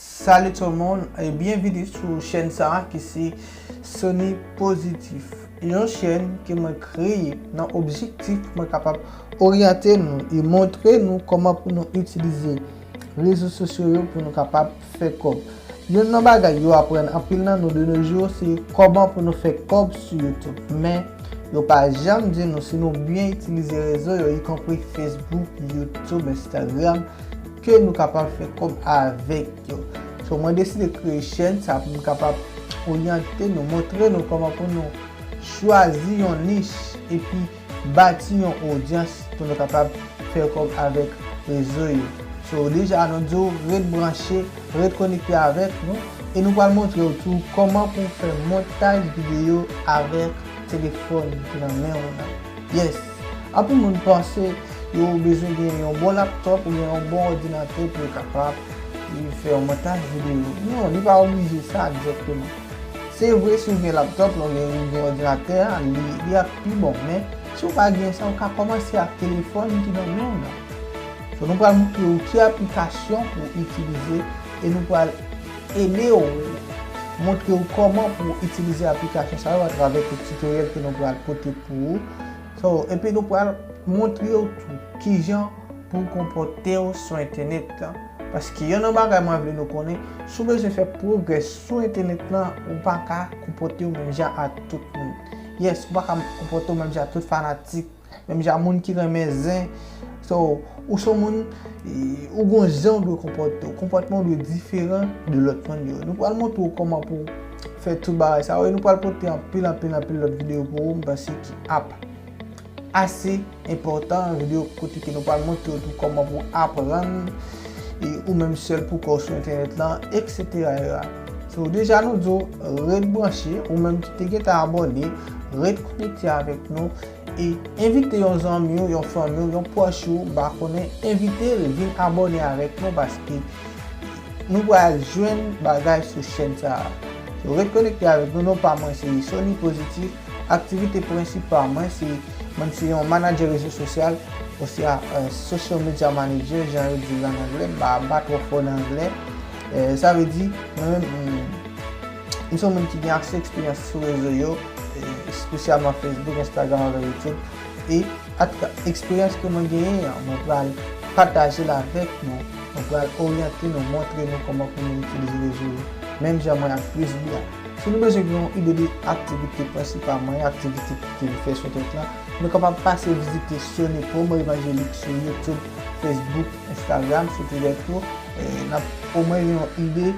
Salut tout moun e byenvini sou chèn sa ki se Sony Positif yon chèn ke mwen kreye nan objektif pou mwen kapab oryante nou e montre nou kòman pou nou itilize rezo sosyo yo pou nou kapab fè kòb yonn nan bagay yo aprann anpil nan nou de nos jours se kòman pou nou fè kòb sou YouTube men yo pa janm di nou si nou byen itilize rezo yo ikonpri Facebook, YouTube, Instagram. Ke nou kapab fè kòb avèk yo. So mwen deside kreye chèn sa pou m kapab oryante nou, montre nou kòman pou nou chwazi yon nich epi bati yon odyans pou nou kapab fè kòb avèk rezo yo. So deja nou di w ret branche, ret konekte avèk nou e nou pral montre w tou kòman pou w fè montaj videyo avèk telefòn ki nan men w lan. Yes! Anpil moun panse yo bezwen gen yon bon laptop oubyen yon bon òdinatè pou yo kapab fè yon montaj videyo. Non, li pa oblije sa direkteman. Se vre si ou gen laptop lan oubyen ou gen òdinatè a, li ap pi bon, men si ou pa gen sa, ou ka kòmanse ak telefòn ki nan men w lan. Nou pral montre ou ki aplikasyon pou ou itilize e nou pral. ede w montre w kòman pou w itilize aplikasyon sa yo atravè kèk titoryèl ke nou pral pote pou ou so epi nou pral montre w tou kijan pou w konpòte w sou entènèt la paske yonn nan bagay mwen vle nou konnen si w bezwen fè pwogrè sou entènèt la ou pa ka konpòte w menm jan ak tout moun yes ou pa ka konpòte w menm jan ak tout fanatik Menm jan moun ki renmen zen. So, ou son moun, ou gon jan ou dwe konpòte ou. Konpòtman ou dwe diferan de lòt moun yo. Nou pral montre ou kòman pou fè tout bagay sa yo. E nou pral pote anpil, anpil, anpil lòt videyo pou ou. M panse ki ap ase enpòtan. Videyo kote ke nou pral montre ou tou kòman pou aprann. E ou menm sèl pou kò ou sou entènèt lan, eksetera. So deja nou di w ret branche, ou menm ki te gentan abòne, ret konekte avèk nou e envite yon zanmi w, yon fanmi w, yon pwòch ou ba konnen, envite l vin abòne avèk nou paske nou pral jwenn bagay sou chèn sa a. So ret konekte avèk nou, non pa mwen se Sony Positif, aktivite prensipal mwen se, mwen se yon manadjè rezo sosyal oswa social media manager jan yo di l an anglè, m pa twò fò nan anglè. Sa vle di, mwen menm, m se yon moun ki gen ase eksperyans sou rezo yo, espesyalman Facebook, Instagram avèk YouTube. E atouka, eksperyans ke mwen genyen an, mwen pral pataje l avèk nou. Mwen pral oryante nou, montre nou kòman pou nou itilize rezo yo. Menm jan mwen ak Prisby a. Si nou bezwen gen yon ide de aktivite prensipal mwen, aktivite ke m fè sou tèt la, nou kapab pase vizite Sony Promo Evangelique sou YouTube, Facebook, Instagram, sou Twitter tou. n ap omwen gen yon ide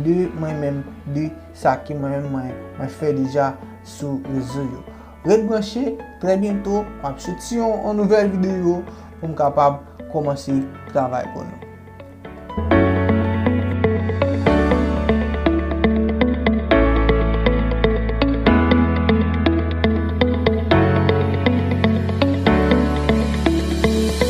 de mwen menm, de sa ke mwen menm mwen fè deja sou rezo yo. Ret branche, trè byento m ap soti yon nouvèl videyo pou m kapab kòmanse travay pou nou.